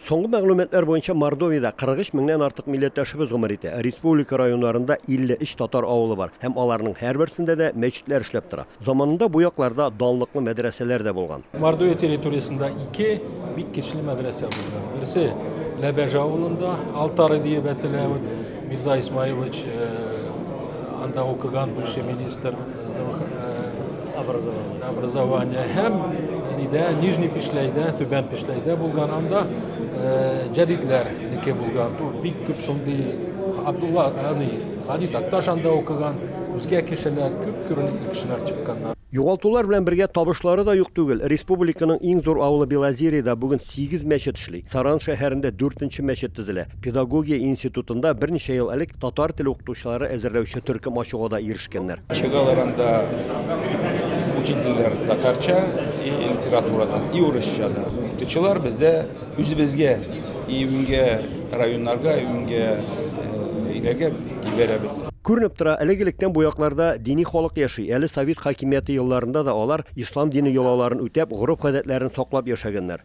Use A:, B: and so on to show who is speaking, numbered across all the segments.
A: Соңгы мәгълүматлар буенча Мордовиядә 43 меңнән артык милләттәшебез гомер итә. Республика районнарында 53 татар авылы бар һәм аларның һәрберсендә дә мәчетләр эшләп тора. Заманында бу якларда данлыклы мәдрәсәләр дә булган. Мордовия территориясендә
B: ике бик кичле мәдрәсә булган. Берсе Ләбәж авылында, Алтары диеп әтелә, вот Мирза Исмаилович анда укыган, бывший министр. образование һәм нидә нижний пешләйдә түбән пешләйдә булган анда җәдидләрнеке булган бик күп шундый абдулла ани гади такташ анда укыган үзгә кешеләр күп күренекле кешеләр чыкканнар Югалтулар белән бергә
A: табышлары да юк түгел. Республиканың иң зур авылы Белозерьеда бүген сигез мәчет эшли. Саран шәһәрендә дүртенче мәчет төзелә. Педагогия институтында берничә ел элек татар теле укытучылары әзерләүче төркем ачуга да ирешкәннәр. Чыгалар анда
C: учительләр татарча и литературадан, и урысча да. Укытучылар бездә үзебезгә, июньгә районнарга, июньгә илгә җибәрәбез. Күренеп тора,
A: элек-электән бу якларда дини халык яши, әле совет хакимияте елларында да алар, ислам дине йолаларын үтәп, гореф-гадәтләрен саклап яшәгәннәр.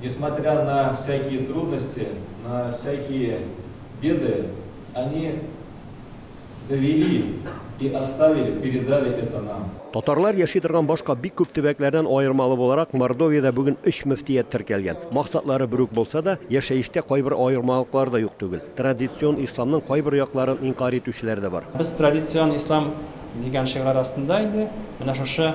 D: Несмотря на всякие трудности, на всякие беды, они довели и оставили, передали это нам. Татарлар яши торган
A: башка бик күп төбәкләрдән аермалы буларак, Мордовиядә бүген өч мөфтият теркәлгән. Максатлары бер үк булса да, яшәештә кайбер аермалыклар да юк түгел. Традицион исламның кайбер якларын инкарь итүчеләр дә бар. Без традицион
E: ислам дигән шигарь астында инде менә шушы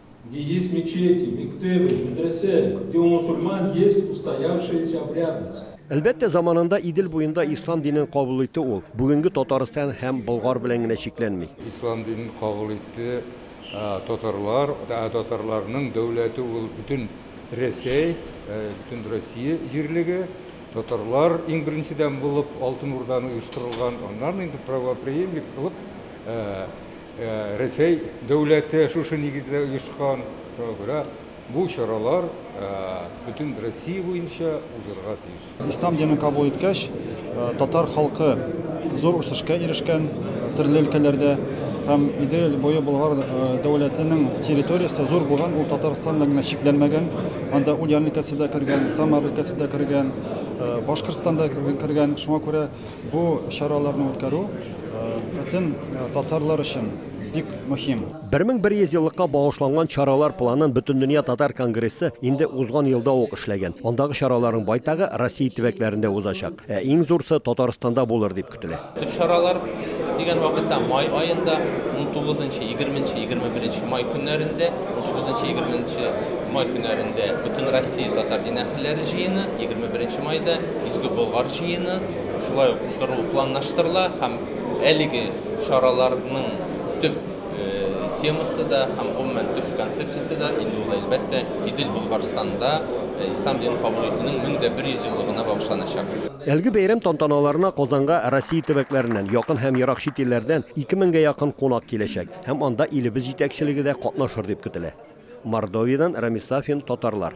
F: Где есть мечети, мектебы, медресе, где у мусульман есть устоявшаяся обрядность. Әлбәттә, заманында
A: Идел буенда ислам динен кабул итте ул. Бүгенге Татарстан һәм Болгар белән генә чикләнми. Ислам динен кабул
G: итте татарлар. Татарларның дәүләте ул бөтен Рәсәй, бөтен Россия җирлеге. Татарлар иң беренчедән булып Алтын Урданы оештырылган, аннан инде правопреемник булып Рәсәй дәүләте шушы нигездә оешкан, шуңа күрә бу чаралар бөтен Россия буенча узырга тиеш. Ислам динен кабул иткәч,
H: татар халкы зур үсешкә ирешкән төрле өлкәләрдә һәм Идел буе Болгар дәүләтенең территориясе зур булган, ул Татарстан белән генә чикләнмәгән. Анда Ульян өлкәсе дә кергән, Самар өлкәсе дә кергән, Башкортстан да кергән. Шуңа күрә Бу чараларны үткәрү бөтен татарлар өчен бик мөһим. 1100 еллыкка
A: багышланган чаралар планын Бөтендөнья татар конгрессы инде узган елда ук эшләгән. Андагы чараларның байтагы Россия төбәкләрендә узачак. Ә иң зурсы Татарстанда булыр дип көтелә. Төп чаралар
I: дигән вакытта май аенда 19 нчы, 20 нчы, 21 нчы май көннәрендә, 19 нчы, 20 нчы май көннәрендә Бөтенроссия татар дин әһелләре җыены, 21 нчы майда Изге Болгар җыены шулай ук уздырылу планлаштырыла һәм әлеге чараларның төп темасы да һәм, гомумән, төп концепциясе дә инде ул, әлбәттә, Идел Болгарстанда ислам динен кабул итүнең 1100 еллыгына багышланачак. Әлеге бәйрәм
A: тантаналарына Казанга Россия төбәкләреннән, якын һәм ерак чит илләрдән 2 меңгә якын кунак киләчәк һәм анда илебез җитәкчелеге дә катнашыр дип көтелә. Мордовиядән Рамис Сафин, Татарлар.